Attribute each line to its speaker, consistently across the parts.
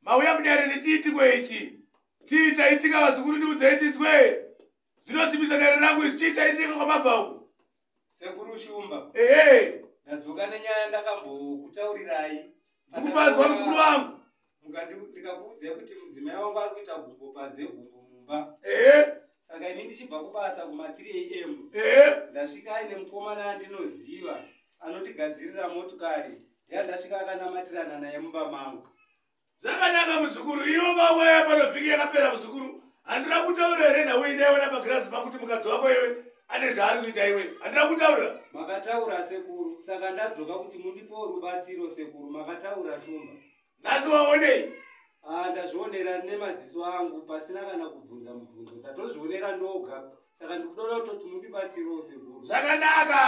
Speaker 1: mauya munyare nechiitiko ichi chii chaitika vazukuru ndiudzei tinzwe zvinosimbisa dare rangu izvi chii chaitika kwamabva uku sekuru shumba ehe ndadzoka nenyaya ndakambokutaurirai ndikupanzwa muzukuru wangu ndikakuudzai kuti mudzimai wangu ari kuita gumbo panze gumbo mumba ehe saka ini ndichibva kubasa kuma 3 am ehe ndasvika aine mukomana andinoziva anondigadzirira motokari yandasvika akanamatirana naye mumba mangu zvakanaka muzukuru ivo vawaya pano vhiki yakapera muzukuru handira kutaura here nhau inaiona pagirazi pakuti mukadzi wako iwe ane zvaari kuita iwe handira kutaura makataura sekuru saka ndadzoka kuti mundipewo rubatsiro sekuru makataura shumba nhasi waonei ah, ndazvionera nemaziso angu pasina kana kubvunza mubvunzo ndatozvionera ndoga saka ndikutoda kutoti mundibatsirewo sekuru zvakanaka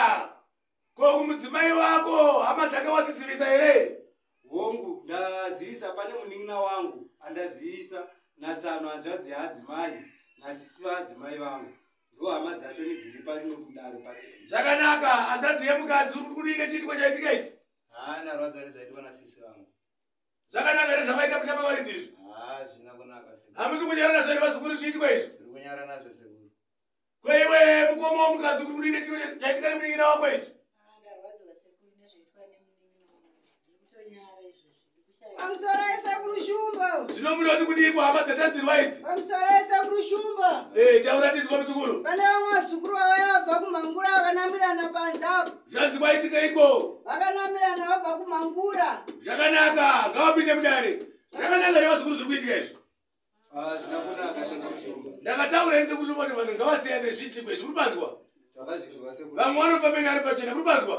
Speaker 1: Ko kumudzimai wako hama dzake wadzizivisa here? Hongu, ndazivisa pane munin'ina wangu andazivisa natsano hanzvadzi yaadzimai nasisi vaadzimai vangu ndo hama dzacho nedziri pari nokudaro pari. Zvakanaka, hanzvadzi yemukadzi uri kudii nechiitiko chaitika ichi? Haa, ndarwadza nezvaitika nasisi vangu. Zvakanaka here zvamaita kushama varidzi izvi? Haa, zvina kunaka sekuru. Hamusi kunyara nazvo here vazukuru zviitiko izvi? Tiri kunyara nazvo sekuru. Kweiwe mukoma wamukadzi kuri kudini chiro chaitika nemunin'ina wako ichi? Pamusoro esekuru Shumba. Zvino munoti kudii kuhama dzatadzirwa idzi? Pamusoro esekuru Shumba. Eh, chauratidzwa muzukuru. Pane vamwe vazukuru vavo vabva kumhangura vakanamirana panze apo. Zvanzi kwaitika iko. Vakanamirana vabva kumhangura. Zvakanaka, ngavapinde mudare. Zvakanaka nevazukuru zviri kuitika izvi. ndakataura ini sekuti voti vanhu ngavasiyane zviitiko izvi muripanzwa vamwe vanofamba ine ari pachena muripanzwa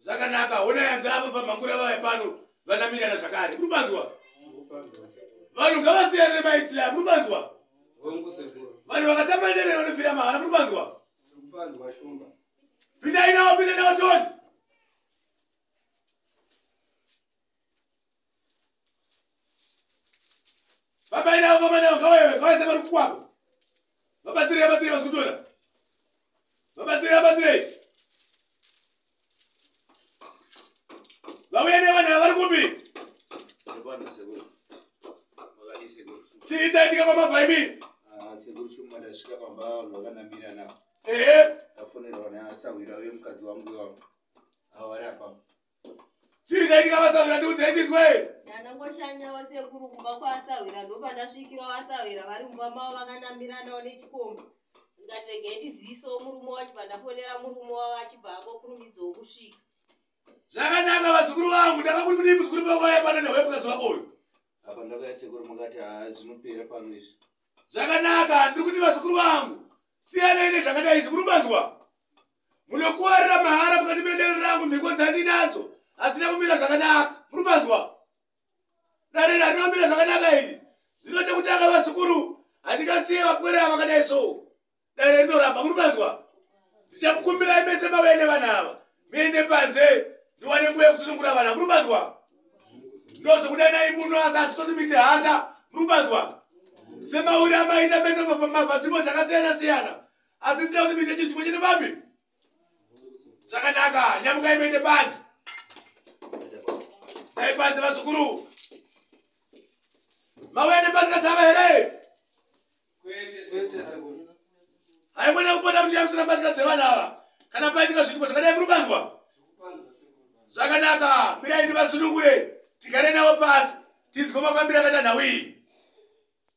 Speaker 1: zvakanaka hona yanzi ava vamhangura vaya pano vanamirana zvakare muripanzwa vanhu ngavasiyane nemaitile a muripanzwa vanhu vakatamba nderere vanofira mahara muripanzwa pindai nawo pindai nawo toni vabairawo vamanawo ngavayewe ngavaise vari kukwako vabatsirei vabatsirei vazikutora vabatsirei vabatsirei vauya nevana vari kupi chii chaitika kwamabva imi ah, sekuru shumba ndasvika pamba vanhu vakanamira navo ehe ndafonerwa naasahwira uye mukadzi wangu iwavo avari apapo chiikaitika vasahwira ndiudze itinzwe ndanangoshanya wasekuru kumba kwaasahwira ndopandasvikirawo asahwira vari mumba mavo vakanambiranawo nechikomba ndikatega itizivisawo murume wacho pandafonera murume wavo achibva angokurumidzawo kusvika zvakanaka vazukuru vangu ndakakuri kudii muzukuru pavaya pano nehwepukadzi wako uyu apa ndakaya sekuru mukati haa zvinopera pano izvi zvakanaka ndiri kuti vazukuru vangu siyanai nezvakadai izvi muri manzwa munokuwarira mahara mukati mendere rangu mhiko dzandinadzo hadzina kumira zvakanaka muri manzwa dare randomira zvakanaka iri zvino chekutanga vazukuru handingasiye vapwere avakadai so dare rinoramba muri panzwa ndichakukumbirai mese mauya nevana ava muende panze ndiwane nguva yekusunungura vana muri panzwa ndozokudanai muno asi hatisoti miti hasha muri panzwa semauri amaita mese mabvadzvimbo dzakasiyana siyana asi ndida kuti mite chinhu chimwe chete papi zvakanaka nyamuka imeite panzi dai panzi vazukuru mauya nepasika dzava here haimwene kupota muchiyamisira mbatya dzevana ava kana paitika zviitiko zvakadai muri kupanzwa zvakanaka mirai ndivasunungure tigare navo pasi tinzwe mafambiro akaita nhau iyi